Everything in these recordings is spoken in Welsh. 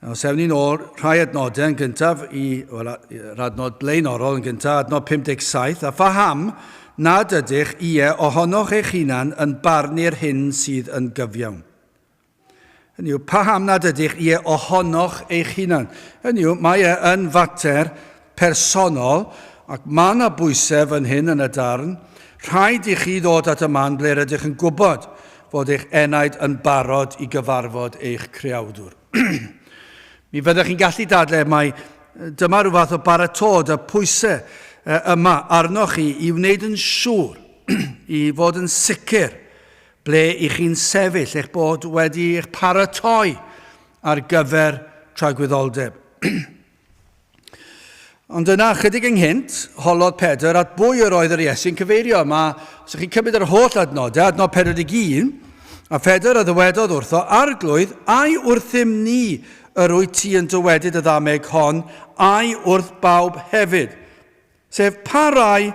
Os ewn ni'n ôl rhai adnodau yn gyntaf i well, yr adnod blaenorol yn gyntaf, adnod 57, a phaham nad ydych ie ohonoch eich hunan yn barnu'r hyn sydd yn gyfiawn. Hynny yw, paham nad ydych ie ohonoch eich hunan. Hynny yw, mae e yn fater personol, ac mae yna bwysau fan hyn yn y darn, rhaid i chi ddod at y man ble rydych yn gwybod fod eich enaid yn barod i gyfarfod eich creawdwr. Mi fyddech chi'n gallu dadle mai dyma rhyw fath o baratod y pwysau yma arnoch chi i wneud yn siŵr i fod yn sicr ble i chi'n sefyll, eich bod wedi eich paratoi ar gyfer tragwyddoldeb. Ond yna, chydig ynghynt, holodd Pedr at bwy yr oedd yr Iesu'n cyfeirio. Mae, os ydych chi'n cymryd yr holl adnodau, adnod 41, a Phedr a ddywedodd wrtho, arglwydd, ai wrthym ni yr wyt ti yn dywedyd y ddameg hon, ai wrth bawb hefyd? Sef pa rai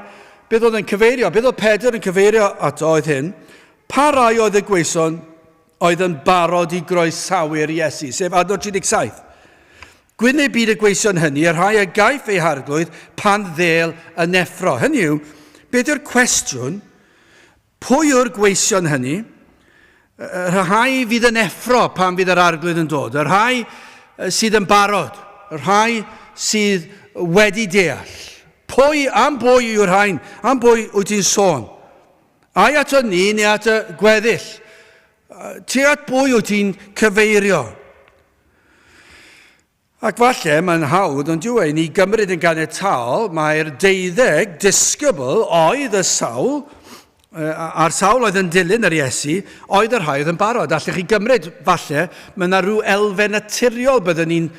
beth oedd e'n cyfeirio, beth oedd Pedr yn cyfeirio ato oedd hyn, pa rai oedd y gweison oedd yn barod i groesawu'r Iesu, sef adnod 37. Gwyn ei byd y gweision hynny, y rhai a gaiff ei harglwydd pan ddel yn effro. Hynny yw, beth yw'r cwestiwn? Pwy yw'r gweision hynny? Y rhai fydd yn effro pan fydd yr Arglwydd yn dod, y rhai sydd yn barod, y rhai sydd wedi deall. Pwy, am bwy yw'r rhain? Am bwy wyt ti'n sôn? Ai ato ni neu at y gweddill? Ti at bwy wyt ti'n cyfeirio? Ac falle mae'n hawdd, ond dyw e, i ni gymryd yn ganiataol mai'r deuddeg disgybl oedd y sawl, a'r sawl oedd yn dilyn yr Iesu, oedd y rhai oedd yn barod. Allech chi gymryd, falle, mae yna rhyw elfen naturiol byddwn ni'n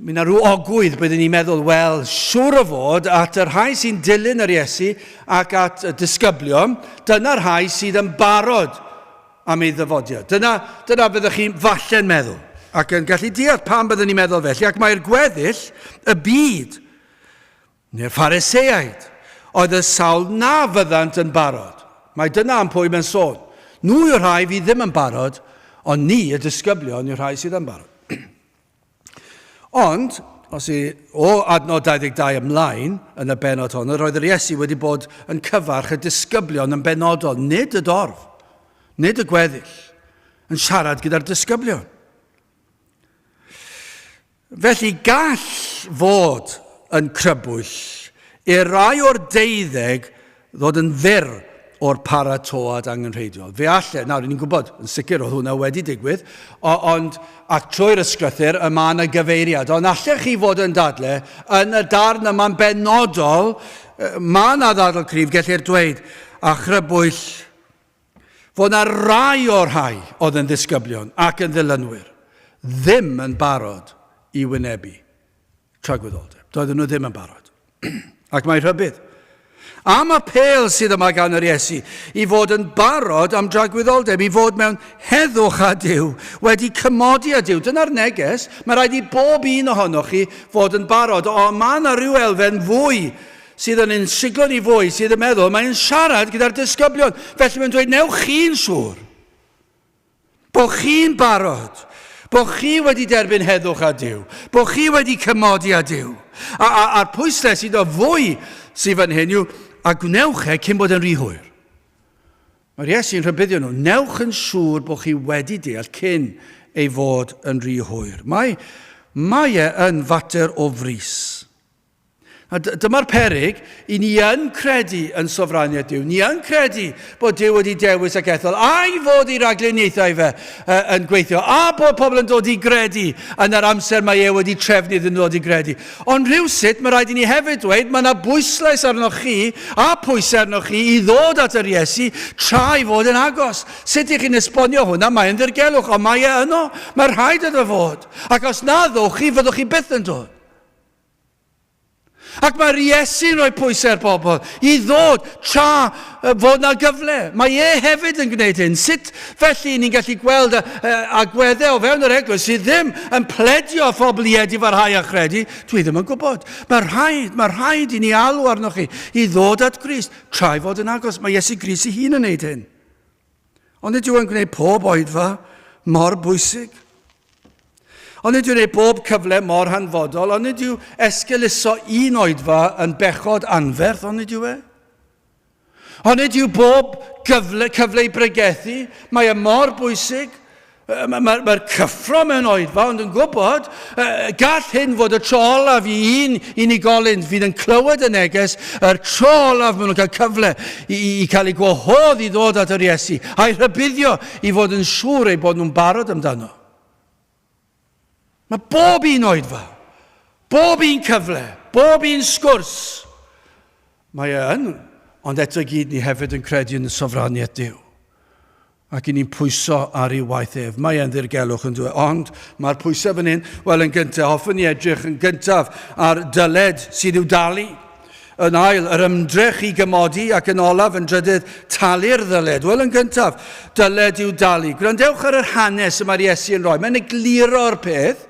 Mae yna rhyw ogwydd byddwn ni'n meddwl, wel, siŵr o fod at y rhai sy'n dilyn yr Iesu ac at y disgyblion, dyna'r rhai sydd yn barod am ei ddyfodiad. Dyna, dyna byddech chi falle'n meddwl, ac yn gallu deall pam byddwn ni'n meddwl felly, ac mae'r gweddill y byd, neu'r Phariseaid, oedd y sawl na fyddant yn barod. Mae dyna am pwy mae'n sôn. Nhw yw'r rhai fydd ddim yn barod, ond ni, y disgyblion, yw'r rhai sydd yn barod. Ond, os y, o adnod 22 ymlaen, yn y benod hon, yr oedd yr Iesu wedi bod yn cyfarch y disgyblion yn benodol, nid y dorf, nid y gweddill, yn siarad gyda'r disgyblion. Felly gall fod yn crybwyll i'r rai o'r deuddeg ddod yn fyr o'r paratoad angenrheidiol. Fe alle, nawr, ni'n gwybod, yn sicr oedd hwnna wedi digwydd, ond ac trwy'r ysgrythyr y mae yna gyfeiriad, ond allech chi fod yn dadle, yn y darn yma'n benodol, mae yna ddadl cryf, gellir dweud, a chrybwyll, fod yna rai o'r rhai oedd yn ddisgyblion ac yn ddilynwyr ddim yn barod i wynebu tragwyddoldeb. Doedden nhw ddim yn barod. Ac mae rhybydd am apel sydd yma gan yr Iesu i fod yn barod am dragwyddoldeb, i fod mewn heddwch â Dyw, wedi cymodi â Dyw. Dyna'r neges. Mae rhaid i bob un ohonoch chi fod yn barod. O, mae yna rhyw elfen fwy sydd yn ein siglo ni fwy, sydd yn meddwl, mae'n siarad gyda'r disgyblion, felly mae'n dweud, newch chi'n siŵr. Bo chi'n barod. Bo chi wedi derbyn heddwch a Duw. Bo chi wedi cymodi a Duw. A, a, a'r pwysles iddo fwy sydd fan hyn yw, a gwnewch e cyn bod yn rhy hwyr. Mae'r Iesu'n rhybuddio nhw, newch yn siŵr bod chi wedi deall cyn ei fod yn rhy hwyr. Mae, mae e yn fater o frys. A dyma'r peryg, i ni yn credu yn sofraniaeth Duw, ni yn credu bod Duw wedi dewis ac ethol, a'i fod ei rhagluniaethau fe uh, yn gweithio, a bod pobl yn dod i gredu yn yr amser mae e wedi trefnu iddyn nhw ddod i gredu. Ond rhywsut, mae rhaid i ni hefyd dweud, mae yna bwyslais arnoch chi, a pwysau arnoch chi, i ddod at yr Iesu tra i fod yn agos. Sut ych chi'n esbonio hwnna? Mae'n ddirgelwch, ond mae e yno. Mae rhaid iddo fod. Ac os na ddowch chi, fyddwch chi byth yn dod. Ac mae'r Iesu'n rhoi pwysau ar bobl i ddod tra fod na gyfle. Mae e hefyd yn gwneud hyn. Sut felly ni'n gallu gweld agweddau o fewn yr eglwys sydd ddim yn pledio â phobl i edu farhau a chredu? Dwi ddim yn gwybod. Mae rhaid, mae rhaid i ni alw arnoch chi i ddod at Grist tra i fod yn agos. Mae Iesu Grist ei hun yn gwneud hyn. Ond nid yw'n gwneud pob oedfa mor bwysig. Ond nid yw'n gwneud bob cyfle mor hanfodol, ond nid yw esgeluso un oedfa yn bechod anferth, ond nid yw e? Ond nid yw bob gyfle, cyfle i bregethu, mae e mor bwysig, Mae'r ma, ma cyffro mewn oedfa, ond yn gwybod, uh, gall hyn fod y tro olaf i un unigolyn fydd yn clywed y neges, yr tro olaf maen nhw'n cael cyfle i, i, i cael ei gwahodd i ddod at yr Iesu, a'i rhybuddio i fod yn siŵr ei bod nhw'n barod amdano. Mae bob un oedfa, bob un cyfle, bob un sgwrs, mae e yn, ond eto gyd ni hefyd yn credu yn y sofraniaeth Duw ac i ni'n pwyso ar ei waith ef. Mae e'n ddirgelwch yn dweud, ond mae'r pwysau fan hyn, wel yn gyntaf, hoffwn ni edrych yn gyntaf ar dyled sydd i'w dalu. Yn ail, yr ymdrech i gymodi ac yn olaf, yn drydydd, talu'r ddyled. Wel, yn gyntaf, dyled i'w dalu. Gwrandewch ar yr hanes y mae'r Iesu yn rhoi. Mae'n egluro'r peth.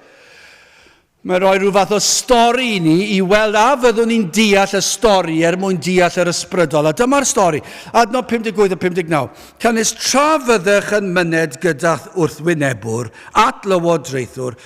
Mae'n rhoi rhyw fath o stori i ni i weld a fyddwn ni'n deall y stori er mwyn deall yr ysbrydol. A dyma'r stori. Adnodd 58 a 59. Canys tra fyddech yn myned gyda'th wrthwynebwr at lywodraethwr,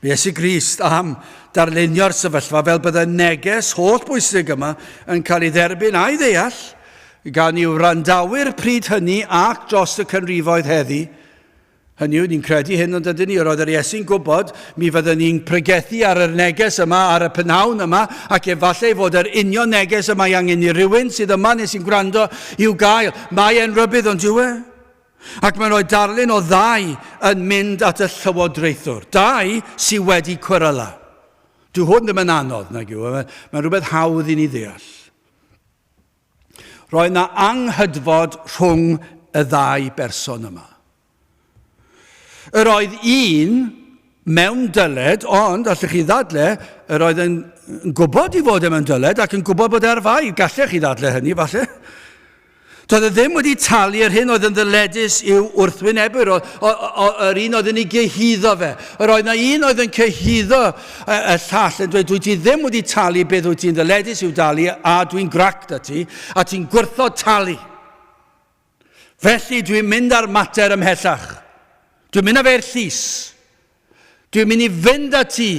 Mae Iesu Grist am darlunio'r sefyllfa fel bydde neges holl bwysig yma yn cael ei dderbyn a'i ddeall gan i'w wrandawyr pryd hynny ac dros y canrifoedd heddi. Hynny yw, ni'n credu hyn ond ydyn ni, yr oedd yr Iesu'n gwybod, mi fydden ni'n pregethu ar yr neges yma, ar y pynawn yma, ac efallai fod yr union neges y mae angen i rywun sydd yma neu sy'n gwrando i'w gael. Mae e'n rybydd ond yw e? Ac mae'n rhoi darlun o ddau yn mynd at y llywodraethwr. Dau sydd wedi cweryla. Dwi hwn ddim yn anodd, nag yw. Mae'n mae rhywbeth hawdd i ni ddeall. Roedd yna anghydfod rhwng y ddau berson yma. Yr oedd un mewn dyled, ond, allwch chi ddadle, yr oedd yn gwybod i fod e mewn dyled ac yn gwybod bod e ar fai. Gallech chi ddadle hynny, falle. Doedd e ddim wedi talu yr hyn oedd yn ddyledus i'w wrthwynebwyr, o, o, o, yr un oedd yn ei gyhuddo fe. Yr oedd na un oedd yn cyhuddo y, y llall yn dweud, dwi ti ddim wedi talu beth wyt ti'n ddyledus i'w dalu, a dwi'n grac da ti, a ti'n gwrthod talu. Felly dwi'n mynd â'r mater ymhellach. Dwi'n mynd â fe'r llys. Dwi'n mynd i fynd â ti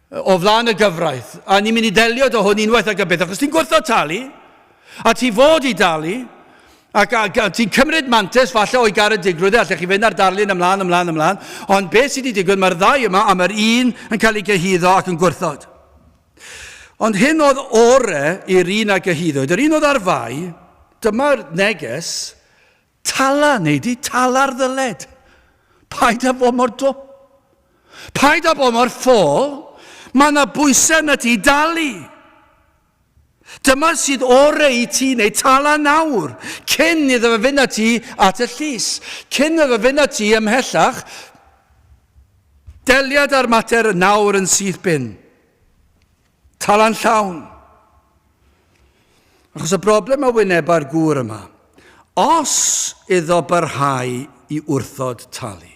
o flaen y gyfraith, a ni'n mynd i ddelio dy hwn unwaith ac yn byth, achos ti'n gwrthod talu, a ti fod i dalu, ac a, a ti'n cymryd mantes falle o'i garedigrwydd e, allech chi fynd ar darlun ymlaen, ymlaen, ymlaen, ond beth sydd wedi digwydd, mae'r ddau yma, a mae'r un yn cael ei gyhuddo ac yn gwrthod. Ond hyn oedd ore i'r un a gyhuddwyd, yr un oedd ar fai, dyma'r neges, Tala, neu di tala'r ddyled. Paid â bod mor dwp. Paid â bod mor ffôl. Mae yna bwysau arna ti i dalu. Dyma sydd orau i ti neu tala nawr, cyn iddo fe fynd â ti at y llys, cyn iddo fe fynd â ti ymhellach. Deliad â'r mater nawr yn syth bin. Talan llawn! Achos y broblem a wyneba'r gŵr yma, os iddo barhau i wrthod talu,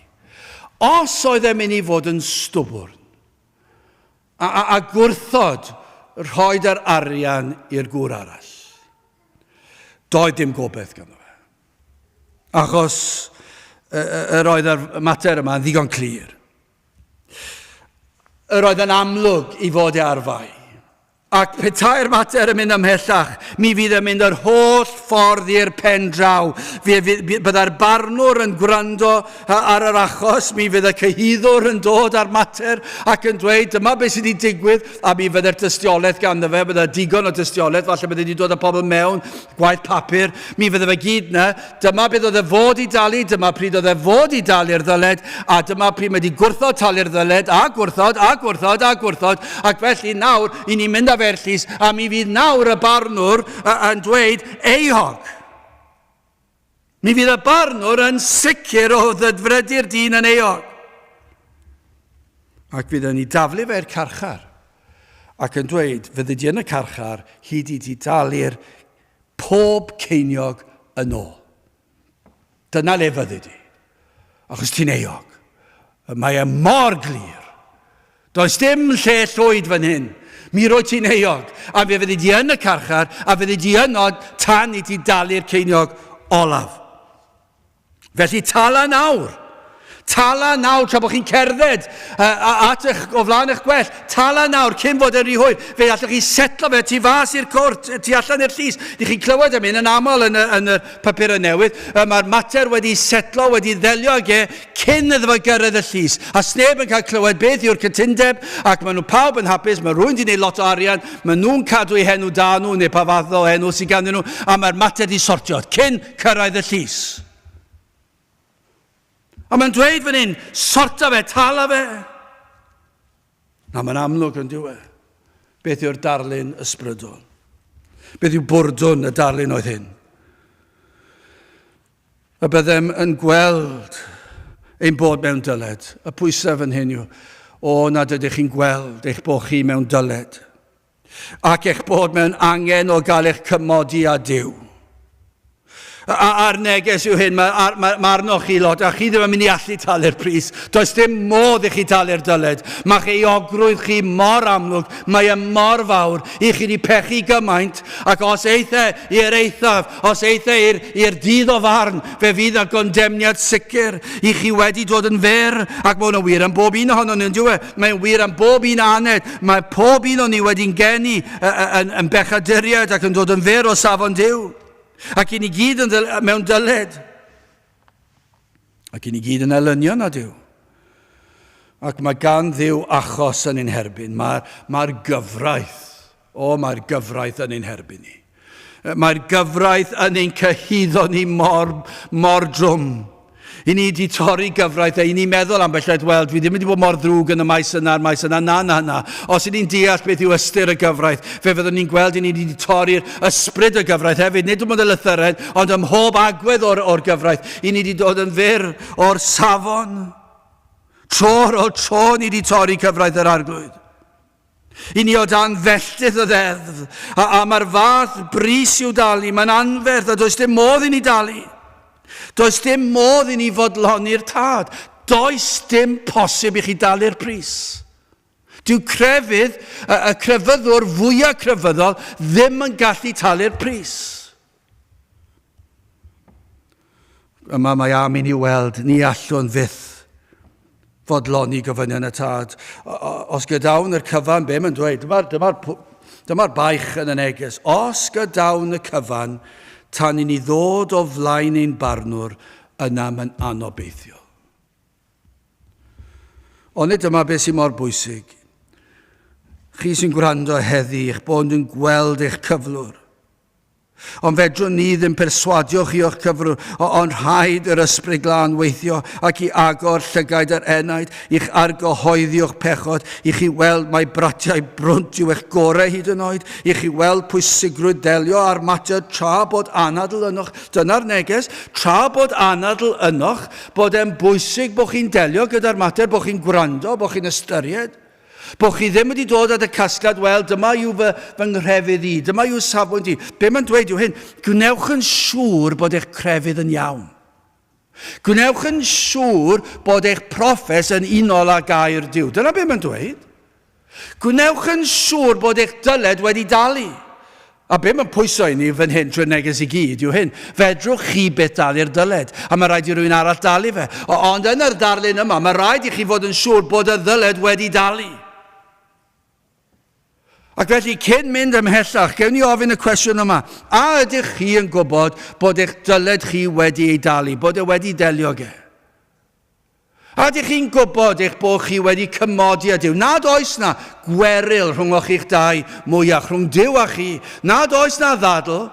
os oedd e'n mynd i fod yn stwbwrn, a, a, a gwrthod rhoi yr arian i'r gŵr arall, doedd dim gobeith ganddo fe. Achos yr oedd yr mater yma yn ddigon clir. Yr oedd yn amlwg i fod e arfau. Ac petai'r mater yn mynd ymhellach, mi fydd yn mynd yr holl ffordd i'r pen draw. Byddai'r barnwr yn gwrando ar yr achos, mi fydd y cyhuddwr yn dod â'r mater ac yn dweud dyma beth sydd wedi digwydd a mi fydde'r dystiolaeth ganddo fe, bydde digon o dystiolaeth, falle bydde wedi dod â pobl mewn gwaith papur, mi fydde fe gyd na, dyma beth oedd e fod i dalu, dyma pryd oedd e fod i dalu'r ddyled, a dyma pryd mae wedi gwrthod talu'r ddyled, a gwrthod, a gwrthod, a gwrthod, ac felly nawr, i ni mynd â fe i'r llys, a mi fydd nawr y barnwr yn dweud, Euog! Mi fydd y barnwr yn sicr o ddedfredu'r dyn yn eog, ac fydd yn ei daflu fe i'r carchar, ac yn dweud, fyddi di yn y carchar hyd i ti dalu'r pob ceiniog yn ôl. Dyna le fyddi di. Achos ti'n euog. Mae e mor glir. Does dim lle llwyd fan hyn. Mi roi ti'n euog, a fe fyddi di yn y carchar, a fyddi di yno tan i ti dalu'r ceiniog olaf. Felly tala nawr. Tala nawr tra bod chi'n cerdded at eich, o flaen eich gwell. Tala nawr cyn fod yn rhy hwyr. Fe allwch chi setlo fe tu fas i'r cwrt, tu allan i'r llys. Ni chi'n clywed am hyn yn aml yn y, yn y papurau newydd, y mae'r mater wedi setlo, wedi ddelio ag e cyn iddo fo gyrraedd y llys, a sneb yn cael clywed beth yw'r cytundeb, ac maen nhw pawb yn hapus, mae rhywun wedi gwneud lot o arian, maen nhw'n cadw eu henw da nhw, neu pa fath o enw sydd ganddyn nhw, a mae'r mater wedi sortio cyn cyrraedd y llys. A mae'n dweud fan hyn, sorta fe, tala fe. Na, mae'n amlwg yn dyw e. Beth yw'r darlun ysbrydol? Beth yw bwrdwn y darlun oedd hyn? Y byddem yn gweld ein bod mewn dyled. Y pwysau fan hyn yw, o nad ydych chi'n gweld eich bod chi mewn dyled. ac eich bod mewn angen o gael eich cymodi â Duw. A'r neges yw hyn, mae, mae, mae arnoch chi lot, a chi ddim yn mynd i allu talu'r pris. Does dim modd i chi talu'r dyled. Mae chi ogrwydd chi mor amlwg, mae e mor fawr, i chi wedi pechu gymaint, ac os eithe i'r eithaf, Os eithr i'r dydd o farn, fe fydd na gondemniad sicr i chi wedi dod yn fer, ac mae hwnna'n wir am bob un ohono ni, yn dywe? Mae'n wir am bob un aned. Mae pob un o ni wedi'n geni yn, yn bechaduriaid ac yn dod yn fer o safon Dyw. Ac i ni gyd yn mewn dyled. Ac i ni gyd yn elynion nad yw. Ac mae gan ddiw achos yn ein herbyn. Mae'r mae gyfraith, o mae'r gyfraith yn ein herbyn ni. Mae'r gyfraith yn ein cyhyddo ni mor, mor drwm. I ni wedi torri gyfraith a i ni meddwl am belled, wel, dwi ddim wedi bod mor ddrwg yn y maes yna, a'r maes yna, na, na, na. Os i ni'n deall beth yw ystyr y gyfraith, fe fyddwn ni'n gweld i ni wedi torri'r Ysbryd y gyfraith hefyd, nid dim ond y lythyren, ond ym mhob agwedd o'r, or gyfraith. I ni wedi dod yn fyr o'r safon. Tro ar ôl tro ni wedi torri cyfraith yr arglwydd. I ni o dan felltith y ddeddf, a, a mae'r fath bris i'w dalu, mae'n anferth a does dim modd i ni dalu. Does dim modd i ni fodloni'r tad. Does dim posib i chi dalu'r pris. Dyw crefydd, y, y crefyddwr fwyaf crefyddol, ddim yn gallu talu'r pris. Yma mae am i ni weld, ni allwn fyth fodloni gofynion y tad. Os gydawn yr cyfan, be mae'n dweud? Dyma'r dyma dyma baich yn y neges. Os gydawn y cyfan, tan i ni ddod o flaen ein barnwr, yna mae'n anobeithiol. Onid dyma beth sy'n mor bwysig? Chi sy'n gwrando heddi, eich bod yn gweld eich cyflwr. Ond fedrwn ni ddim perswadio chi o'ch cyflwr, ond rhaid yr ysbryd glân weithio ac i agor llygaid yr enaid, i'ch argyhoeddi o'ch pechod, i chi weld mai bratiau brwnt yw eich gorau hyd yn oed, i chi weld pwysigrwydd delio â'r mater tra bod anadl ynoch. Dyna'r neges, tra bod anadl ynoch, bod e'n bwysig bod chi'n delio gyda'r mater, bod chi'n gwrando, bod chi'n ystyried, bod chi ddim wedi dod at y casgliad, wel, dyma yw fy, fy nghrefydd i, dyma yw safbwynt i. Be mae'n dweud yw hyn, gwnewch yn siŵr bod eich crefydd yn iawn. Gwnewch yn siŵr bod eich profes yn unol â gair Dyw. Dyna be mae'n dweud. Gwnewch yn siŵr bod eich dyled wedi dalu. A be mae'n pwyso i ni fan hyn trwy'r neges i gyd yw hyn, fedrwch chi byth dalu'r dyled, a mae rhaid i rywun arall dalu fe. O, ond yn yr darlun yma, mae rhaid i chi fod yn siŵr bod y ddyled wedi dalu. Ac felly, cyn mynd ymhellach, gewn ni ofyn y cwestiwn yma, a ydych chi yn gwybod bod eich dyled chi wedi ei dalu, bod e wedi delio ge? A ydych chi'n gwybod eich bod chi wedi cymodi â Duw, nad oes 'na gweryl rhwnghoch chi'ch dau mwyach, rhwng Duw a chi, nad oes 'na ddadl,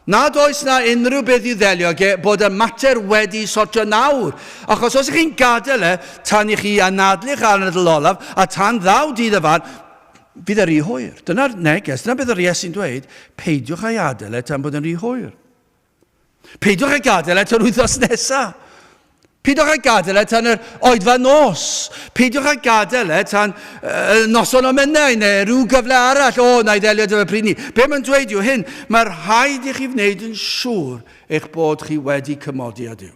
nad oes 'na unrhyw beth i'w ddelio ag e, bod y mater wedi sortio nawr, achos os ych chi'n gadael e tan i chi anadlu'ch anadl olaf, a tan ddaw dydd y fan, bydd e'n rhy hwyr. Dyna'r neges, dyna beth yr Iesu'n dweud, peidiwch â'i adael e tan bod e'n rhy hwyr. Peidiwch â gadael e tan wythnos nesaf. Peidiwch â gadael e tan yr oedfa nos. Peidiwch â gadael e tan uh, noson o mennau neu rhyw gyfle arall. O, na i ddelio dyfa pryd ni. Be mae'n dweud yw hyn, mae'r rhaid i chi wneud yn siŵr eich bod chi wedi cymodi â Dyw.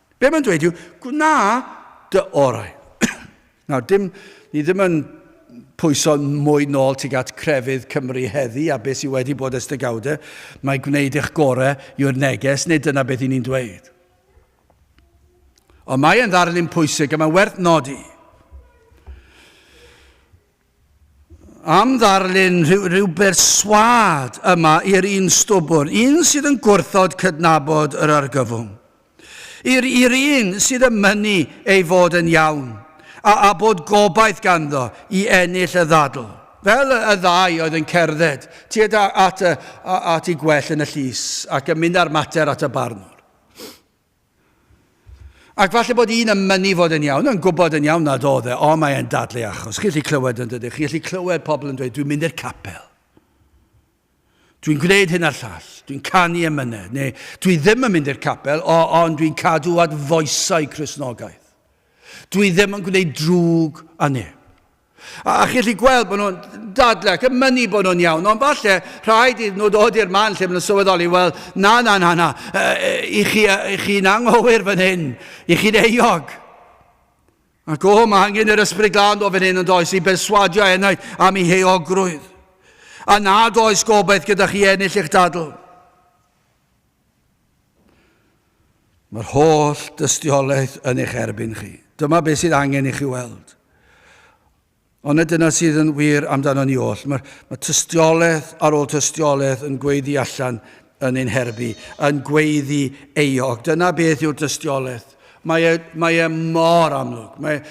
Be mae'n dweud yw, gwna dy orau. Nawr, dim, ni ddim yn pwyso mwy nôl tuag at crefydd Cymru heddi a beth sydd wedi bod ers degawdau, mae gwneud eich gorau yw'r neges, neu dyna beth i ni'n dweud. Ond mae e'n ddarlun pwysig a mae'n werth nodi. am ddarlun rhyw, rhyw berswâd yma i'r un stwbwr, un sydd yn gwrthod cydnabod yr argyfwng. I'r i'r un sydd yn mynnu ei fod yn iawn, a, a bod gobaith ganddo i ennill y ddadl. Fel y, y ddau oedd yn cerdded tued at, y, at ei gwell yn y llys ac yn mynd â'r mater at y barnwr. Ac falle bod un yn mynnu fod yn iawn, yn gwybod yn iawn nad oedd e, ond mae e'n dadlu achos. Chi'n gallu clywed yn dydych, chi'n gallu clywed pobl yn dweud, dwi'n mynd i'r capel. Dwi'n gwneud hyn a'r llall, dwi'n canu emynedd, neu dwi ddim yn mynd i'r capel, o, ond dwi'n cadw at foesau Cresnogaeth. Dwi ddim yn gwneud drwg a neb. A chi'n gallu gweld bod nhw'n dadle ac yn mynnu bod nhw'n iawn, ond falle rhaid iddyn nhw ddod i'r man lle maen nhw'n sylweddoli, wel, na, na, na, na, i chi, i chi'n anghywir fan hyn, i chi'n eog. Ac o, mae angen yr ysbryd glân o fan hyn yn does i berswadio enaid am ei heogrwydd. A nad oes gobaith gyda chi ennill eich dadl. Mae'r holl dystiolaeth yn eich erbyn chi. Dyma beth sydd angen i chi weld. Ond na dyna sydd yn wir amdano ni oll. Mae, mae tystiolaeth ar ôl tystiolaeth yn gweiddi allan yn ein herbu, yn gweiddi eog. Dyna beth yw'r dystiolaeth. Mae e, mae e mor amlwg. Mae,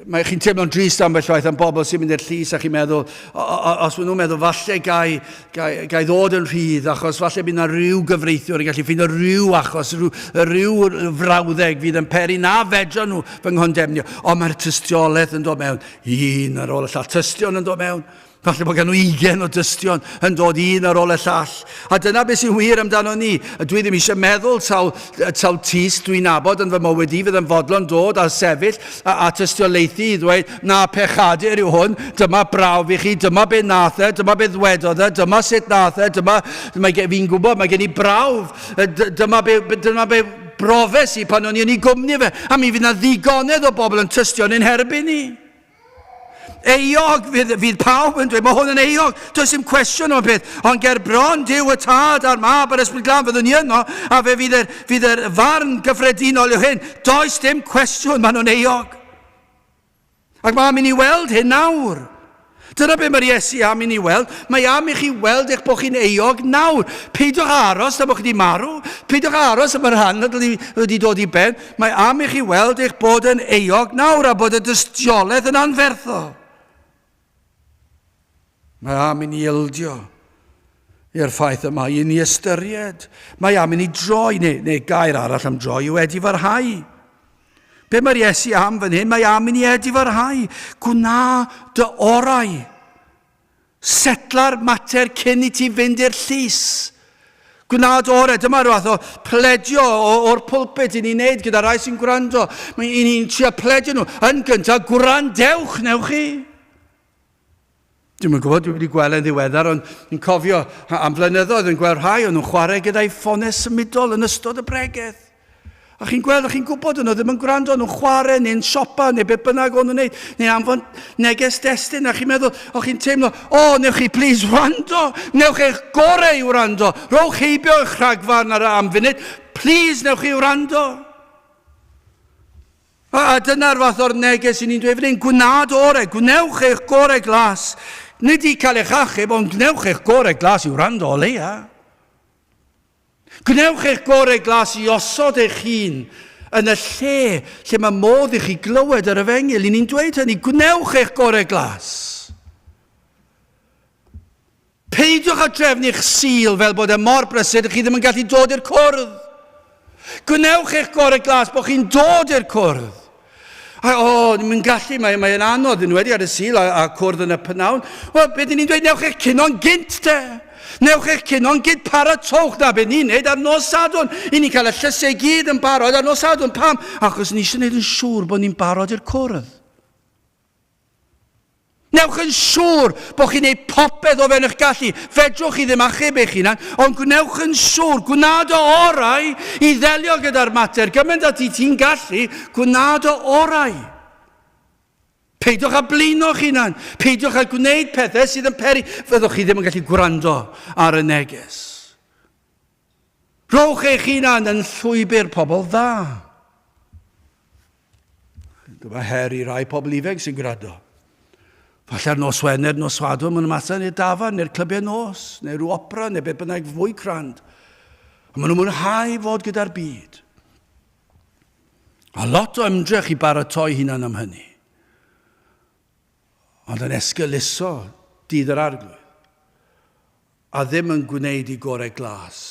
mae chi'n teimlo'n drist am bell waith am bobl sy'n mynd i'r llys a chi'n meddwl, os maen nhw'n meddwl, falle gai, gai, gai ddod yn rhydd, achos falle bydd yna rhyw gyfreithiwr yn gallu ffeindio rhyw achos, rhyw, rhyw frawddeg fydd yn peri na fedra nhw fy nghondemnio. Ond mae'r tystiolaeth yn dod mewn, un ar ôl y llall, tystion yn dod mewn. Falle bod gan nhw ugen o dystion yn dod un ar ôl y llall. A dyna beth sy'n wir amdano ni. Dwi ddim eisiau meddwl taw, taw tis dwi'n abod yn fy mywyd i fydd yn fodlon dod a sefyll a, a tystiolaethu i ddweud, na, pechadur yw hwn, dyma brawf i chi, dyma be nath e, dyma be ddwedodd e, dyma sut nath e, dyma, mae fi'n gwybod, mae gen i brawf, dyma be, dyma be brofes i pan o'n i yn ei gwmni fe, a mi fydd na ddigonedd o bobl yn tystio'n ein herbyn ni. Euog, fydd, fydd pawb yn dweud, mae hwn yn euog, does dim cwestiwn o'n peth, ond ger bron Dyw y Tad a'r Mab a'r Ysbryd Glân fyddwn ni yno, a fe fydd yr, fydd yr farn gyffredinol yw hyn, does dim cwestiwn, maen nhw'n euog. Ac mae am i ni weld hyn nawr. Dyna beth mae'r Iesu am i ni weld. Mae am i chi weld eich bod chi'n euog nawr. Peidiwch aros na bod chi wedi marw. Peidiwch aros am y rhan nad wedi dod i ben. Mae am i chi weld eich bod yn euog nawr a bod y dystiolaeth yn anferthol. Mae am i ni ildio i'r ffaith y mae un i ystyried. Mae am i ni droi, neu, neu gair arall am droi yw edifarhau. Be mae'r Iesu am fan hyn? Mae am i ni edifarhau. Gwna dy orau. Setla'r mater cyn i ti fynd i'r llys. Gwnaed orau, dyma rhywbeth o pledio o'r pulpit i ni'n neud gyda rai sy'n gwrando. Mae i ni'n trio pledio nhw. Yn gyntaf, gwrandewch, newch chi? Dwi'n yn gwybod, dwi wedi gweld yn ddiweddar, ond yn cofio am flynyddoedd yn gweld rhai o'n nhw'n chwarae gyda'i ffonau symudol yn ystod y bregeth. A chi'n gweld, a chi'n gwybod, o'n nhw ddim yn gwrando, nhw'n chwarae neu'n siopa neu be bynnag o'n nhw'n wneud, neu anfon neges destun, a chi'n meddwl, o chi'n teimlo, o, newch chi plis wrando, newch eich gorau i wrando, rhowch heibio eich rhagfarn ar y am funud, plis newch chi wrando. A, a dyna'r fath o'r neges i ni'n dweud fan hyn, gwnad orau, gwnewch eich gorau glas. Nid i cael eich achub, ond gwnewch eich gorau glas i wrando o leia. Gwnewch eich gorau glas i osod eich hun yn y lle lle mae modd i chi glywed yr efengyl. I ni'n dweud hynny, gwnewch eich gorau glas. Peidiwch â drefnu'ch sul fel bod e mor brysur ydych chi ddim yn gallu dod i'r cwrdd. Gwnewch eich gorau glas bod chi'n dod i'r cwrdd. A, o, ddim yn gallu, mae, mae yn anodd, yn wedi ar y sil a, a cwrdd yn y pynawn. Wel, beth dyn ni'n dweud, newch eich cuno'n gynt te. Newch eich cuno'n gynt, paratowch na beth ni'n neud ar nos sadwn. I ni'n cael y llysau gyd yn barod ar nos sadwn. Pam? Achos ni eisiau gwneud yn siŵr bod ni'n barod i'r cwrdd. Newch yn siŵr bod chi'n ei popeth o fewn eich gallu. Fedrwch chi ddim achub eich hunan, ond gwnewch yn siŵr, gwna dy orau i ddelio gyda'r mater. Gymaint ati ti'n gallu, gwna dy orau. Peidiwch â blino'ch hunan. Peidiwch â gwneud pethau sydd yn peri. Fyddwch chi ddim yn gallu gwrando ar y neges. Rhowch eich hunan yn llwybr pobl dda. Dyma her i rai pobl ifanc sy'n gwrando. Falle'r nos Wener, nos Sadwrn, mae'n ymateb neu dafar, neu'r clybiau nos, neu rhyw opera, neu beth bynnag fwy crand. A maen nhw'n mwynhau fod gyda'r byd. A lot o ymdrech i baratoi hunan am hynny. ond yn esgeuluso dydd yr Arglwydd, a ddim yn gwneud i gorau glas,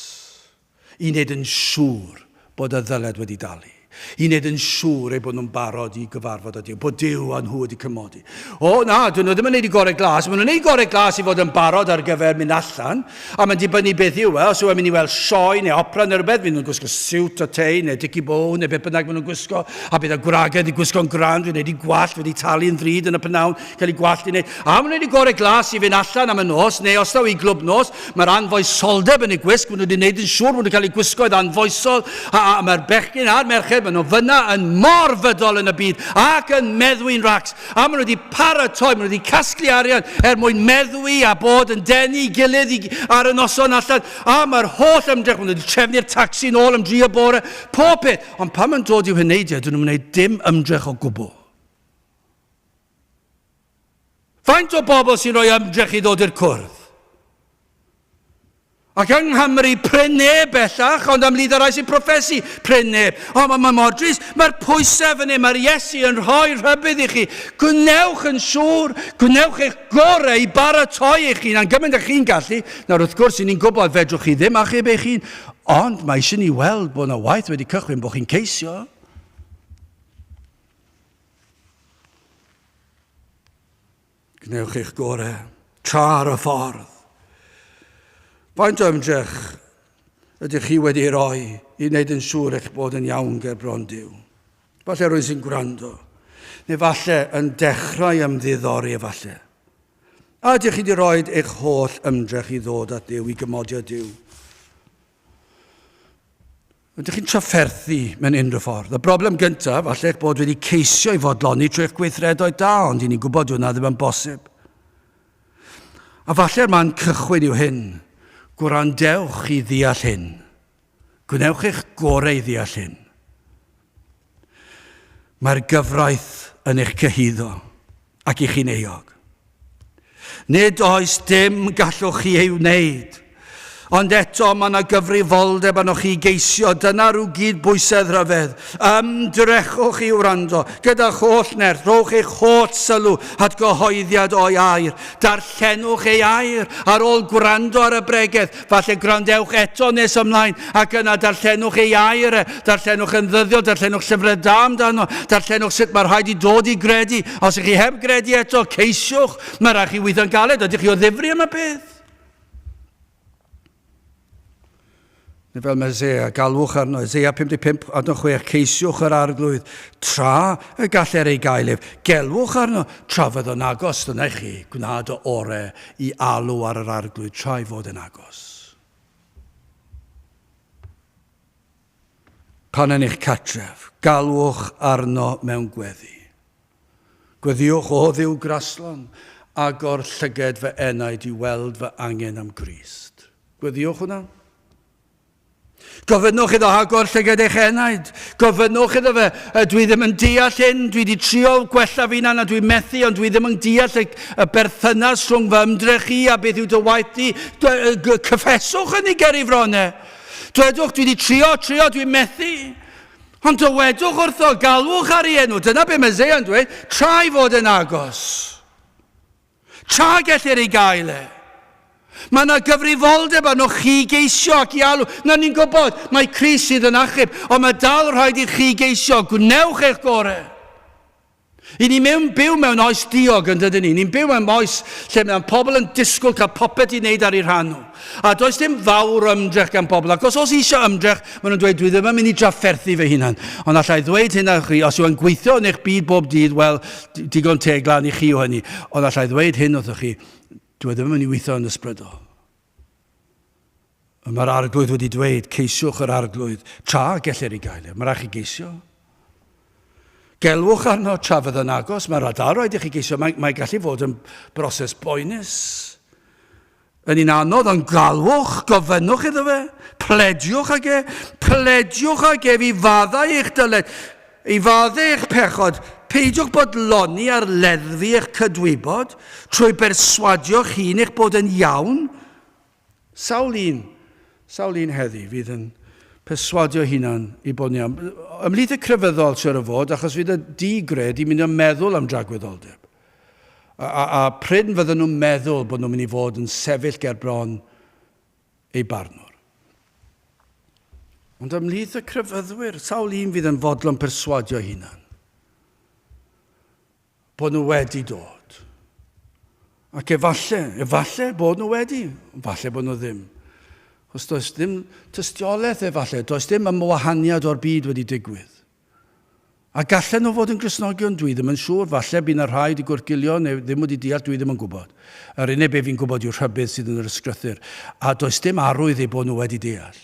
i wneud yn siŵr bod y ddyled wedi dalu, i wneud yn siŵr eu bod nhw'n barod i gyfarfod â Duw, bod Duw a nhw wedi cymodi. O, na, dyn nhw ddim yn wneud i gorau glas, maen nhw'n wneud gorau glas i fod yn barod ar gyfer mynd allan, A mae'n dibynnu beth yw e, os yw e'n mynd i weld sioe neu opera neu rhywbeth, fydd nhw'n gwisgo siwt a tei neu dicky bow neu beth bynnag maen nhw'n gwisgo, a bydd y gwragedd wedi gwisgo'n grand, wedi wneud eu gwallt, wedi talu yn ddrud yn y p'nawn, cael eu gwallt i wneud, a maen nhw'n wneud eu gorau glas i fynd allan am y nos, neu os taw i glwb nos, mae'r anfoesoldeb yn eu gwisg, maen nhw wedi wneud yn siŵr bod nhw'n cael eu gwisgo oedd anfoesol, a, a, a mae'r bechgyn a'r merched, maen nhw fyna yn mor fydol yn y byd, ac yn meddwi'n racs, A maen nhw wedi paratoi, maen nhw wedi casglu arian er mwyn meddwi a bod yn denu i gilydd i, ar y noson allan. A mae'r holl ymdrech, maen nhw wedi trefnu'r tacsi yn ôl am dri o bore, pob peth. Ond pan mae'n dod i'w heneidiau, dyn nhw'n gwneud dim ymdrech o gwbl. Faint o bobl sy'n rhoi ymdrech i ddod i'r cwrdd? Ac yng Nghymru, prin neb bellach, ond am lid y rhai sy'n proffesu, prin neb. O, mae ma mor drist, mae'r pwysau fan hyn, mae'r Iesu yn rhoi rhybydd i chi. Gwnewch yn siŵr, gwnewch eich gorau i baratoi eich hun, a'n gymaint â chi'n gallu. Nawr, wrth gwrs, i ni'n gwybod fedrwch chi ddim achub eich hun, ond mae eisiau ni weld bod yna waith wedi cychwyn, bod chi'n ceisio. Gwnewch eich gorau tra ar y ffordd. Faint o ymdrech ydych chi wedi ei roi i wneud yn siŵr eich bod yn iawn ger bron Duw? Falle rwy'n sy'n gwrando, neu falle yn dechrau ymddiddori efallai. A ydych chi wedi rhoi eich holl ymdrech i ddod at Dduw, i gymodio Duw? Ydych chi'n trafferthu mewn unrhyw ffordd? Y broblem gyntaf, falle eich bod wedi ceisio i fodloni trwy eich gweithredoedd da, ond i ni'n gwybod dyw hwnna ddim yn bosib. A falle'r man cychwyn yw hyn. Gwrandewch i ddeall hyn. Gwnewch eich gorau i ddeall hyn. Mae'r gyfraith yn eich cyhuddo ac i chi'n euog. Nid oes dim gallwch chi ei wneud, ond eto mae yna gyfrifoldeb arnoch chi geisio, dyna rhyw gyd bwysedd rhyfedd. Ymdrechwch i wrando, gyda'ch holl nerth, rhowch eich holl sylw at gyhoeddiad o'i air. Darllenwch ei air ar ôl gwrando ar y bregeth, Falle gwrandewch eto nes ymlaen ac yna darllenwch ei air e, darllenwch yn ddyddiol, darllenwch llyfrau da amdano, darllenwch sut mae rhaid i dod i gredu. Os ych chi heb gredu eto, ceisiwch, mae rhaid chi weithio'n galed, ydych chi o ddifri am y peth? Neu fel mae Zea, galwch arno, Zea 55 ad 6, ceisiwch yr arglwydd, tra y galler ei gael ef, gelwch arno, tra fydd o'n agos, dyna chi, gwnaed o orau i alw ar yr Arglwydd tra'i fod yn agos. Pan yn eich catref, galwch arno mewn gweddi. Gweddiwch, O Dduw graslon, agor llyged fy enaid i weld fy angen am Grist. Gweddiwch hwnna. Gofynnwch iddo agor llyged eich enaid. Gofynnwch iddo fe, dwi ddim yn deall hyn, dwi wedi trio gwella fi'n anna, dwi'n methu, ond dwi ddim yn deall y, y berthynas rhwng fy ymdrech i a beth yw dy waith di. Cyffeswch hynny ger i fron e. Dwedwch, dwi wedi trio, trio, dwi'n methu. Ond dywedwch wrtho, galwch ar ei enw. Dyna be mae Zea'n dweud, trai fod yn agos. Tra gellir ei gael e, mae yna gyfrifoldeb arnoch chi i geisio ac i alw. Nawr, ni'n gwybod, mae Crist sydd yn achub, ond mae dal yn rhaid i chi geisio. Gwnewch eich gorau. I ni mewn byw mewn oes diog, yn dydyn ni? Ni'n byw mewn oes lle mae pobl yn disgwyl cael popeth i wneud ar eu rhan nhw. A does dim fawr o ymdrech gan bobl, ac os oes eisiau ymdrech, maen nhw'n dweud, dwi ddim yn mynd i drafferthu fy hunan. Ond allai ddweud hyn ar chi, os yw e'n gweithio yn eich byd bob dydd, wel, digon teg lan i chi yw hynny. Ond allai ddweud hyn wrthych chi, dwi e ddim yn mynd i weithio yn ysbrydol. Mae'r arglwydd wedi dweud, ceisiwch yr arglwydd, tra gellir ei gael e. Mae rhaid chi geisio. Gelwch arno tra fydd yn agos, mae'n rhaid i chi geisio. Mae, mae gallu fod yn broses boenus. Yn un anodd, ond galwch, gofynnwch iddo fe, plediwch ag e, plediwch ag ef i faddau eich dyled, i faddau eich pechod, peidiwch bodloni ar leddfu eich cydwybod, trwy berswadio'ch hun eich bod yn iawn. Sawl un, sawl un heddi fydd yn perswadio hunan i bod yn iawn? Ymhlith y crefyddol, siwr o fod, achos fydd y di-gred yn mynd yn meddwl am dragwyddoldeb. A, a, a pryn fydden nhw'n meddwl bod nhw'n mynd i fod yn sefyll ger bron ei barnwr. Ond ymhlith y crefyddwyr, sawl un fydd yn fodlon perswadio hunan? Bod nhw wedi dod. Ac efalle, efalle bod nhw wedi, efalle bod nhw ddim. Os does dim tystiolaeth efalle, does dim ymwahaniad o'r byd wedi digwydd. A gallen nhw fod yn Gristnogion? Dwi ddim yn siŵr. Falle by 'na rhai wedi gwrthgilio neu ddim wedi deall, dwi ddim yn gwybod. Yr unig be fi'n gwybod yw rhybudd sydd yn yr Ysgrythur, a does dim arwydd eu bod nhw wedi deall.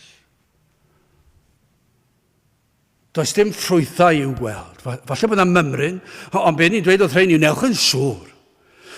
Does dim ffrwythau i'w gweld. Falle bod 'na mymryn, ond be ni'n dweud wrth rhein yw newch yn siŵr.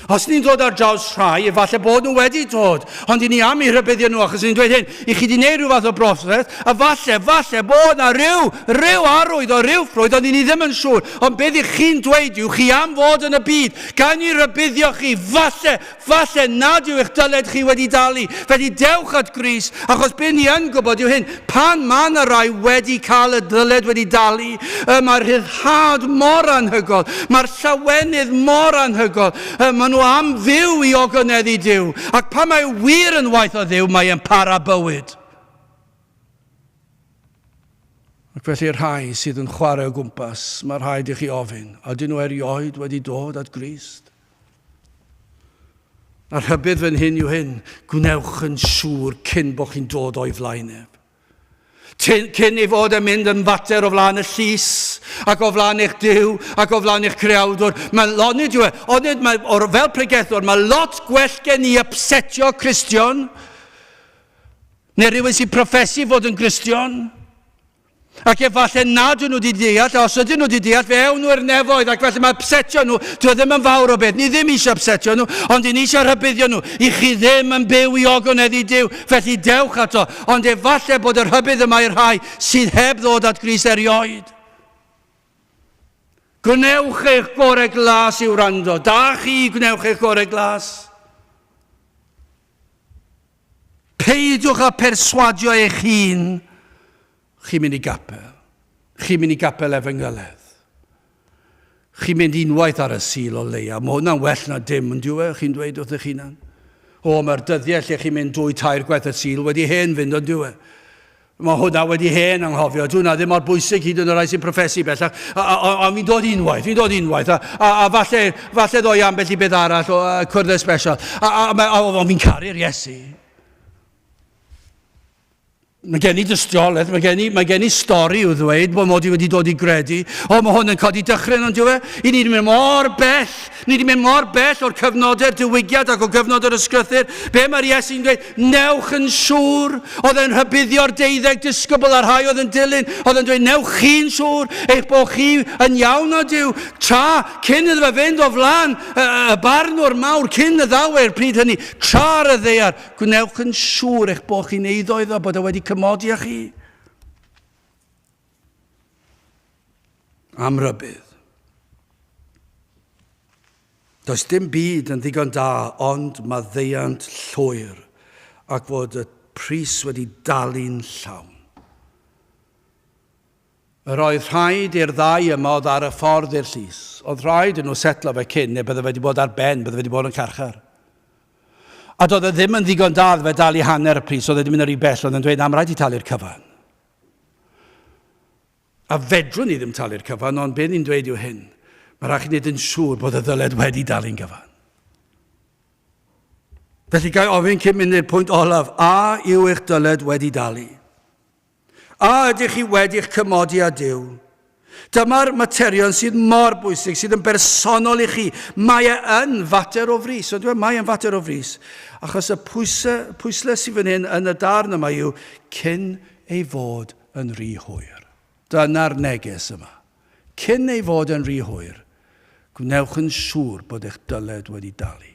Os ni'n dod ar draws rhai, efallai bod nhw wedi dod, ond i ni am eu rhybuddio nhw, achos ni'n dweud hyn, i chi wedi gwneud rhyw fath o broses, a falle, falle bod yna ryw, ryw arwydd o ryw ffrwyth, ond i ni ddim yn siŵr, ond beth i chi'n dweud yw, chi am fod yn y byd, gawn ni rybuddio chi, falle, falle nad yw eich dyled chi wedi dalu, felly dewch at Gris, achos beth ni yn gwybod yw hyn, Pan mae 'na rai wedi cael y dyled wedi dalu, yy, mae'r rhyddhad mor anhygoel, mae'r llawenydd mor anhygoel, yy, maen nhw am fyw i ogoneddau Duw, ac pan mae wir yn waith o Dduw, mae e'n para bywyd. Ac felly'r rhai sydd yn chwarae o gwmpas, mae rhaid i chi ofyn, ydyn nhw erioed wedi dod at Grist? A rhybudd fy nhŷn yw hyn, gwnewch yn siŵr cyn bod chi'n dod o'i flaen ef. Cyn ei fod yn mynd yn fater o flaen y llys, ac o flaen eich Duw, ac o flaen eich creawdwr. Mae, onid yw e, onid mae, or, fel pregethwr, mae lot gwell gen i upsetio Cristion, neu rhywun sy'n profesu fod yn Gristion, Ac efallai nad ydyn nhw wedi deall, a os ydyn nhw wedi deall, fe ewn nhw i'r nefoedd, ac felly mae upsetio nhw, dwi ddim yn fawr o beth, ni ddim eisiau upsetio nhw, ond ni eisiau rhybuddio nhw, i chi ddim yn byw i ogoneddu Dyw, felly dewch ato, ond efallai bod y rhybudd yma i'r rhai sydd heb ddod at Gris erioed. Gwnewch eich gorau glas i wrando. Da chi, gwnewch eich gorau glas. Peidiwch â pherswadio eich hun, chi'n mynd i gapel, chi'n mynd i gapel Efengylaidd, chi'n mynd unwaith ar y Sul o leia, mae hwnna'n well na dim, yn dyw e, chi'n dweud wrth eich hunan? O, mae'r dyddiau lle chi'n mynd dwy tair gwaith y Sul wedi hen fynd, yn dyw e? Mae hwnna wedi hen anghofio, dwi'n na ddim mor bwysig hyd yn y rhai sy'n profesu bellach, ond fi'n dod unwaith, fi'n dod unwaith, a, a, a falle, falle ddoi ambell i beth arall o uh, cwrdd especial, a, a, a, a, a fi'n caru'r Iesu. Mae gen i dystiolaeth, mae gen i, mae gen i stori i'w ddweud bod mod i wedi dod i gredu. O, mae hwn yn codi dychryn ond yw e? I ni wedi mynd mor bell, ni wedi mynd mor bell o'r cyfnodau'r diwygiad ac o gyfnod yr ysgrythyr. Be mae'r Iesu'n dweud? Newch yn siŵr, oedd e'n rhybuddio'r deuddeg disgybl a'r rhai oedd yn dilyn, oedd yn dweud, newch chi'n siŵr eich bod chi yn iawn o Dyw, tra cyn iddo fe fynd o flan y, y barnwr mawr, cyn y ddawer pryd hynny, tra ar y ddeiar, gwnewch yn siŵr eich bod chi'n eiddo iddo, bod e wedi cymodi â chi. Am rybudd. Does dim byd yn ddigon da ond maddeuant llwyr ac fod y pris wedi dalu'n llawn. Yr oedd rhaid i'r ddau yma oedd ar y ffordd i'r llys. Oedd rhaid i nhw setlo fe cyn neu bydde wedi bod ar ben, bydde wedi bod yn carchar. A doedd e ddim yn ddigon da oedd fe dalu hanner y pris, oedd e wedi mynd yn rhy bell, oedd e'n dweud am rhaid i talu'r cyfan. A fedrwn ni ddim talu'r cyfan, ond be ni'n dweud yw hyn, mae rhaid chi wneud yn siŵr bod y ddyled wedi dalu'n gyfan. Felly gael ofyn cyn mynd i'r pwynt olaf, a yw eich dyled wedi dalu? A ydych chi wedi'ch cymodi â Dyw? Dyma'r materion sydd mor bwysig, sydd yn bersonol i chi. Mae e yn fater o frys, ond dweud, mae e'n fater o frys. Achos y pwysau, pwysle sydd fan hyn yn y darn yma yw cyn ei fod yn rhy hwyr. Dyna'r neges yma. Cyn ei fod yn rhy hwyr, gwnewch yn siŵr bod eich dyled wedi dalu.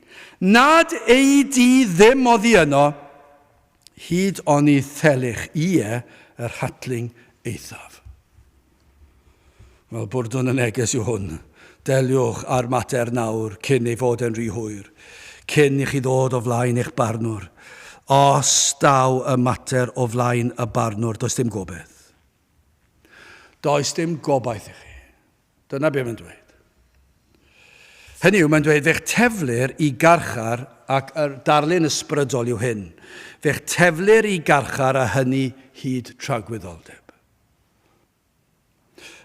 Nad ei di ddim oddi yno, hyd oni thelych ie yr hatling eithaf. Wel, bwrdwn y neges yw hwn. Deliwch â'r mater nawr cyn ei fod e'n rhy hwyr, cyn i chi ddod o flaen eich barnwr. Os daw y mater o flaen y barnwr, does dim gobaith. Does dim gobaith i chi. Dyna be mae'n dweud. Hynny yw, mae'n dweud, fe'ch teflir i garchar, ac yr darlun ysbrydol yw hyn, fe'ch teflir i garchar a hynny hyd tragwyddoldeb.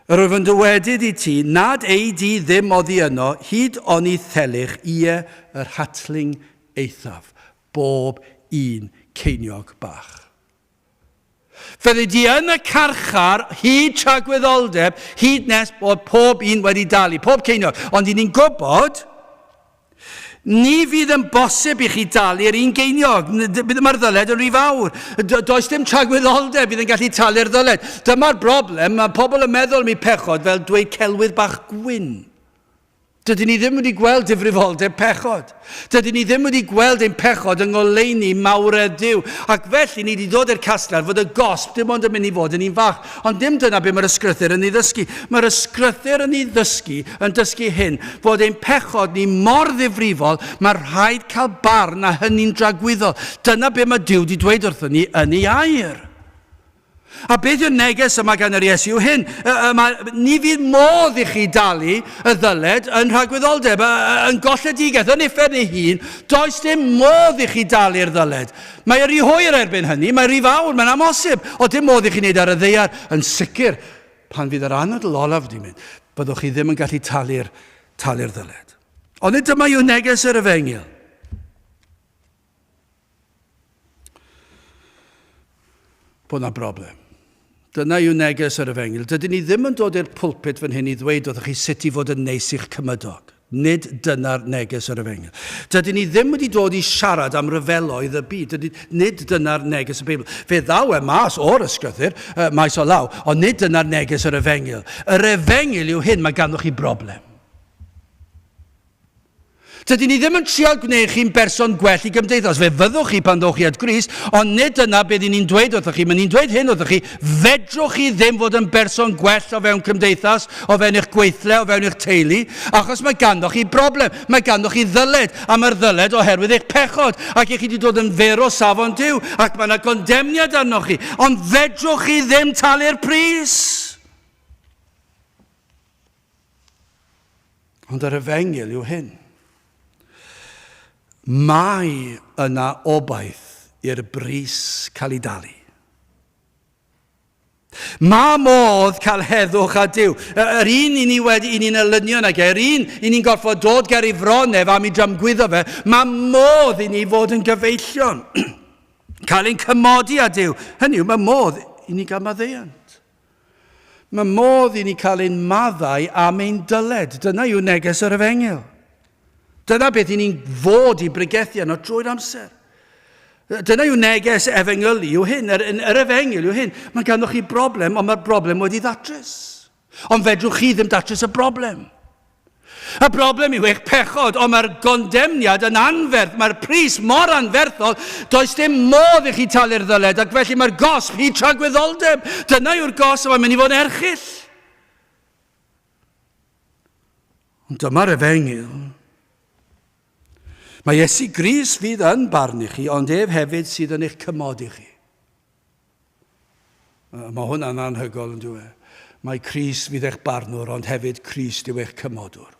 Yr wyf yn dywedyd i ti, nad ei di ddim oddi yno, hyd oni thelich, ie, yr hatling eithaf, bob un ceiniog bach. Fyddi di yn y carchar hyd tragwyddoldeb, hyd nes bod pob un wedi dalu, pob ceiniog. Ond i ni'n gwybod, ni fydd yn bosib i chi dalu yr un geiniog. Mae'r ddyled yn rhy fawr. Does dim tragwyddoldeb fydd yn gallu talu'r ddyled. Dyma'r broblem, mae pobl yn meddwl mi pechod fel dweud celwydd bach gwyn. Dydyn ni ddim wedi gweld difrifoldeb pechod. Dydyn ni ddim wedi gweld ein pechod yng ngoleuni mawredd Duw. Ac felly, ni di ddod i'r casgliad fod y gosb dim ond yn mynd i fod yn un fach. Ond dim dyna be mae'r ysgrythyr yn ei ddysgu. Mae'r ysgrythyr yn ei ddysgu, yn dysgu hyn, bod ein pechod ni mor ddifrifol, mae rhaid cael barn a hynny'n dragwyddol. Dyna be mae Duw di dweud wrthon ni yn ei air. A beth yw'r neges y mae gan yr Iesu yw hyn, y, y mae, ni fydd modd i chi dalu y ddyled yn rhagwyddoldeb, y, y, yn golledigaeth, yn uffern ei hun, does dim modd i chi dalu'r ddyled. Mae yr rhy hwyr erbyn hynny, mae rhy fawr, mae'n amhosib, o dim modd i chi wneud ar y ddeiar, yn sicr, pan fydd yr anadl olaf wedi mynd, byddwch chi ddim yn gallu talu'r talu'r ddyled. Ond nid dyma yw neges yr efengyl. bod yna broblem. Dyna yw neges yr efengyl. Dydyn ni ddim yn dod i'r pulpit fan hyn i ddweud wrthych chi sut i fod yn neis i'ch cymydog. Nid dyna'r neges yr efengyl. Dydyn ni ddim wedi dod i siarad am ryfeloedd y byd. Dydyn, nid dyna'r neges y Beibl. Fe ddaw e mas o'r ysgrythyr, uh, maes o law, ond nid dyna'r neges yr efengyl. Yr efengyl yw hyn, mae ganddoch chi broblem. Dydyn ni ddim yn trial gwneud chi'n berson gwell i gymdeithas. Fe fyddwch chi pan ddowch chi at Grist, ond nid dyna beth i ni'n dweud wrthoch chi. Mae ni'n dweud hyn wrthoch chi, fedrwch chi ddim fod yn berson gwell o fewn cymdeithas, o fewn eich gweithle, o fewn eich teulu, achos mae ganddoch chi broblem, mae ganddoch chi ddyled, a mae'r ddyled oherwydd eich pechod, ac i chi wedi dod yn fer o safon Duw, ac mae yna gondemniad arnoch chi, ond fedrwch chi ddim talu'r pris. Ond yr efengyl yw hyn. Mae yna obaith i'r bris cael ei dalu. Mae modd cael heddwch a Dyw. Yr un i ni wedi i ni'n elynion ag e, yr un i ni'n gorfod dod ger ei fron ef am i dramgwyddo fe, mae modd i ni fod yn gyfeillion. cael ein cymodi a Dyw. Hynny yw, mae modd i ni gael maddeuant. Mae modd i ni cael ein maddau am ein dyled. Dyna yw neges yr efengyl. Dyna beth i ni'n fod i bregethu yno drwy'r amser. Dyna yw neges efengylu, yw hyn, yr, yr efengyl yw hyn. Mae ganddoch chi broblem, ond mae'r broblem wedi ddatrys. Ond fedrwch chi ddim datrys y broblem. Y broblem yw eich pechod, ond mae'r gondemniad yn anferth, mae'r pris mor anferthol, does dim modd i chi talu'r ddyled, ac felly mae'r gosb hyd tragwyddoldeb. Dyna yw'r gosb a mae'n mynd i fod yn erchyll. Ond dyma'r efengyl. Mae Iesu Gris fydd yn barnu chi, ond ef hefyd sydd yn eich cymodi chi. Mae hwnna'n anhygoel, yn dyw e? Mae Crist fydd eich barnwr, ond hefyd Crist yw eich cymodwr.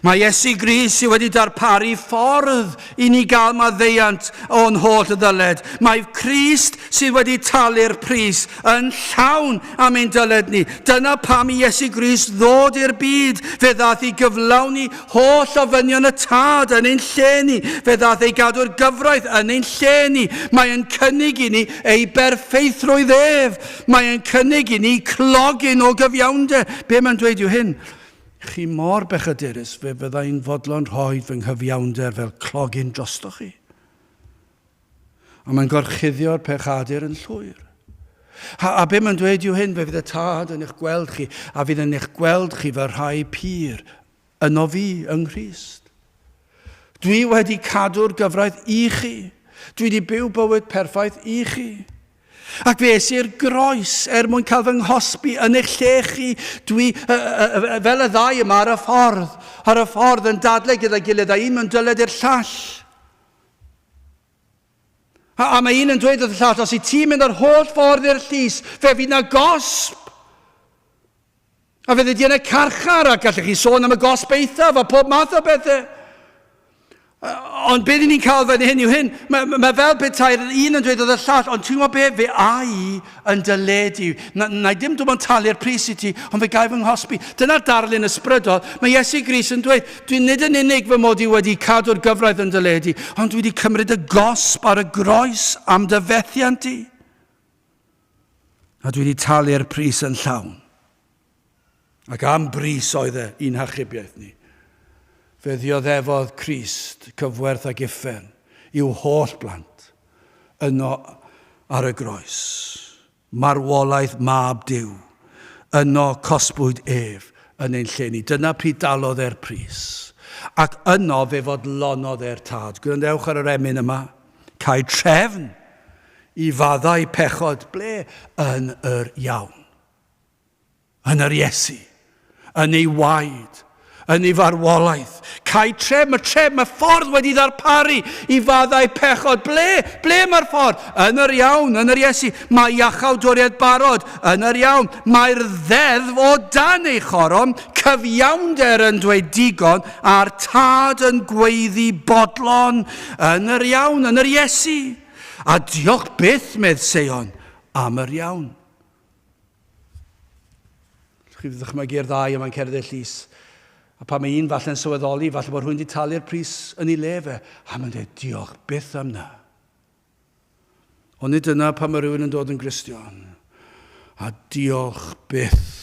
Mae Iesu Gris sydd wedi darparu ffordd i ni gael maddeiant o'n holl ddyled. Mae Crist sydd wedi talu'r pris Yn llawn am ein dyled ni. Dyna pam i Iesu Grist ddod i'r byd, fe ddaeth i gyflawni holl ofynion y Tad yn ein lle ni. Fe ddaeth ei gadw'r gyfraith yn ein lle ni. Mae yn cynnig i ni ei berffeithrwydd ef. Mae yn cynnig i ni clogyn o gyfiawnder. Be mae'n dweud yw hyn, Chi mor bechadurus, fe fydda i'n fodlon rhoi fy nghyfiawnder fel clogyn drostoch chi. A mae'n gorchuddio'r pechadur yn llwyr. A, a be mae'n dweud yw hyn, fe fydd y tad yn eich gweld chi, a fydd yn eich gweld chi fy rhai pur, yno fi yng Nghrist. Dwi wedi cadw'r gyfraith i chi. Dwi wedi byw bywyd perffaith i chi. Ac fe es i'r groes er mwyn cael fy nghosbi yn eich lle chi. Dwi, uh, uh, fel y ddau yma ar y ffordd, ar y ffordd yn dadle gyda'i gilydd a un mewn dyled i'r llall. A, a mae un yn dweud wrth y llall, os i ti'n mynd yr holl ffordd i'r llys, fe fydd na gosb. A fe ydy yn y carchar, a gallech chi sôn am y gosb eithaf a pob math o bethau. Ond beth ni'n cael fan hyn yw hyn, mae, mae fel petai'r un yn dweud oedd y llall, ond ti'n gwybod be, fe ai yn dy le di. Na, na i ddim dim ond talu'r pris i ti, ond fe gael fy nghosbi. Dyna'r darlun ysbrydol. Mae Iesu Gris yn dweud, dwi nid yn unig fy mod i wedi cadw'r gyfraith yn dy le di, ond dwi wedi cymryd y gosb ar y groes am dy fethiant di. A dwi wedi talu'r pris yn llawn. Ac am bris oedd e, i'n hachubiaeth ni. Fe ddioddefodd Crist cyfwerth ac uffern i'w holl blant, yno ar y groes, marwolaeth Mab Duw, yno cosbwyd ef yn ein lle ni. Dyna pryd dalodd e'r pris. Ac yno fe fodlonodd e'r Tad. Gwrandewch ar yr emyn yma. Cael trefn i faddau pechod ble yn yr iawn. yn yr Iesu, yn ei waed, yn ei farwolaeth. Cae tref, mae tref, mae ffordd wedi ddarparu i faddau pechod. Ble? Ble mae'r ffordd? Yn yr iawn, yn yr Iesu. Mae iachawd doriad barod, yn yr iawn. Mae'r ddeddf o dan ei choron, cyfiawnder yn dweud digon, a'r tad yn gweiddi bodlon, yn yr iawn, yn yr Iesu. A diolch byth, medd Seion, am yr iawn. Chi wedi dychmygu'r ddau yma'n cerdded llys. A pan mae un falle'n sylweddoli, falle bod rhywun wedi talu'r pris yn ei le fe, a mae'n dweud diolch byth am na. Ond nid dyna pan mae rhywun yn dod yn Gristion. A diolch byth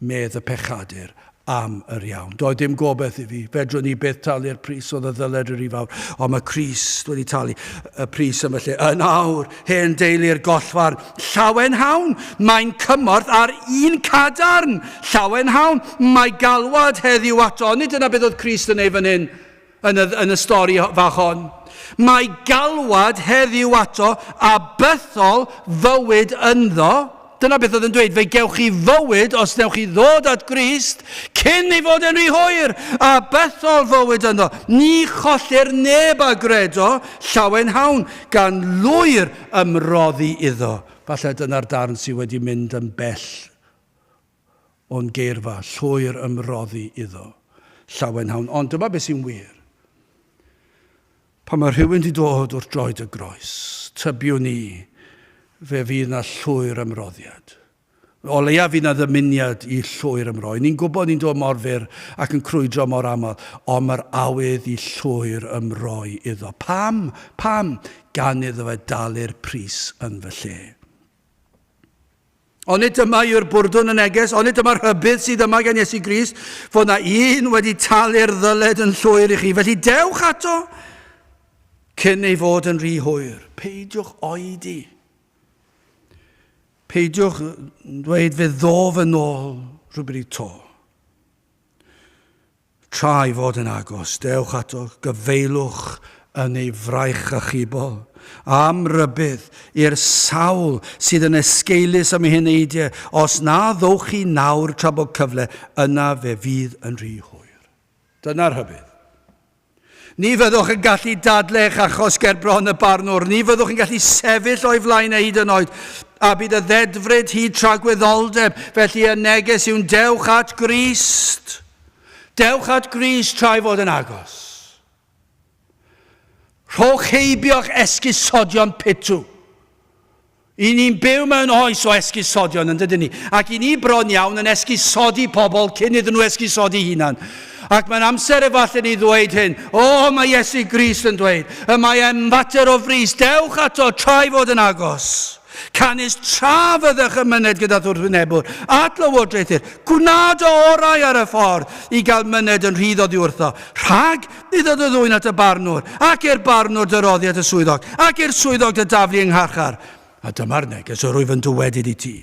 medd y pechadur am yr iawn. Doedd dim gobeith i fi. Fedrwn ni byth talu'r pris oedd y ddyled yr i fawr. Ond mae Crist wedi talu y pris am y lle. Yn awr, hen deulu'r gollfarn, llawen hawn, mae'n cymorth ar un cadarn. Llawen hawn, mae galwad heddiw ato. Nid dyna beth oedd Crist yn ei fan hyn. yn y, yn y stori fach hon. Mae galwad heddiw ato a bythol fywyd ynddo. Dyna beth oedd yn dweud, fe gewch chi fywyd os newch chi ddod at Grist cyn ei fod yn rhy hwyr, a bythol fywyd ynddo. Ni chollir neb a gredo llawen hawn gan lwyr ymroddi iddo. Falle dyna'r darn sydd wedi mynd yn bell o'n geirfa llwyr ymroddi iddo, llawenhawn, ond dyma beth sy'n wir. Pan mae rhywun di dod wrth droed y groes, tybiwn ni, fe fydd na llwyr ymroddiad. O leia fydd na ddymuniad i llwyr ymroi. Ni'n gwybod ni'n dod mor fyr ac yn crwydro mor aml, ond mae'r awydd i llwyr ymroi iddo. Pam? Pam? Gan iddo fe dalu'r pris yn fy lle. Onid dyma yw'r bwrdwn y neges? Onid dyma'r rhybudd sydd yma gan Iesu Grist, fod na un wedi talu'r ddyled yn llwyr i chi? Felly dewch ato cyn ei fod yn rhy hwyr. Peidiwch oedi. Peidiwch dweud fe ddof yn ôl rhywbryd to. Tra'i fod yn agos, dewch ato, gyfeilwch yn ei fraich achubol. Am rybudd i'r sawl sydd yn esgeulus am ei heneidiau, os na ddowch chi nawr tra bod cyfle, yna fe fydd yn rhy hwyr. Dyna rhybudd. Ni fyddwch yn gallu dadl eich achos ger bron y barnwr, ni fyddwch yn gallu sefyll o'i flaen e hyd yn oed, a bydd y ddedfryd hyd tragwyddoldeb, felly y neges yw'n dewch at Grist. Dewch at Grist tra'i fod yn agos. Rhowch heibio'ch esgusodion pitw. Y ni'n byw mewn oes o esgusodion, yn dydyn ni? Ac i ni bron iawn yn esgusodi pobl cyn iddyn nhw esgusodi hunan. Ac mae'n amser efallai ni ddweud hyn, o, oh, mae Iesu Grist yn dweud, y mae e'n fater o frys, dewch ato tra'i fod yn agos. Canys tra fyddech yn myned gyda thwrthwynebwr at lywodraethu'r, gwna dy orau ar y ffordd i gael myned yn rhydd oddi wrtho, rhag Dyda dy ddwyn at y barnwr, ac i'r barnwr dy roddi at y swyddog, ac i'r swyddog dy daflu yng ngharchar. A dyma'r neges yr wyf yn dywedyd i ti,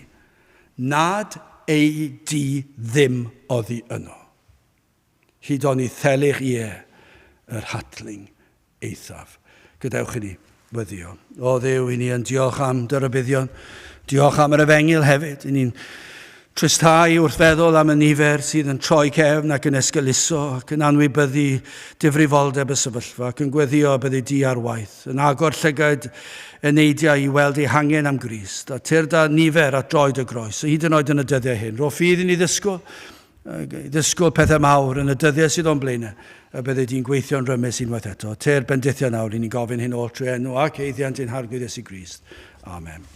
nad ei di ddim oddi yno, hyd oni thelyg ie yr hatling eithaf. Gadewch i ni Weddïo. O Dduw, i ni yn diolch am dy rybuddion. Diolch am yr efengil hefyd. I ni'n tristau wrth feddwl am y nifer sydd yn troi cefn ac yn esgeuluso ac yn anwybyddu difrifoldeb y sefyllfa ac yn gweddio byddi di ar waith, yn agor llygaid eneidiau i weld eu hangen am Grist, a tyrd â nifer at droed y groes, hyd yn oed yn y dyddiau hyn. Ro ffydd i ni ddysgwyl, ddysgwr pethau mawr yn y dyddiau sydd o'n blaenau, a byddi di'n gweithio'n rymus unwaith eto. Te'r bendithio nawr, ry'n ni'n gofyn hyn oll trwy enw ac eithiant ein Harglwydd Iesu Grist. Amen.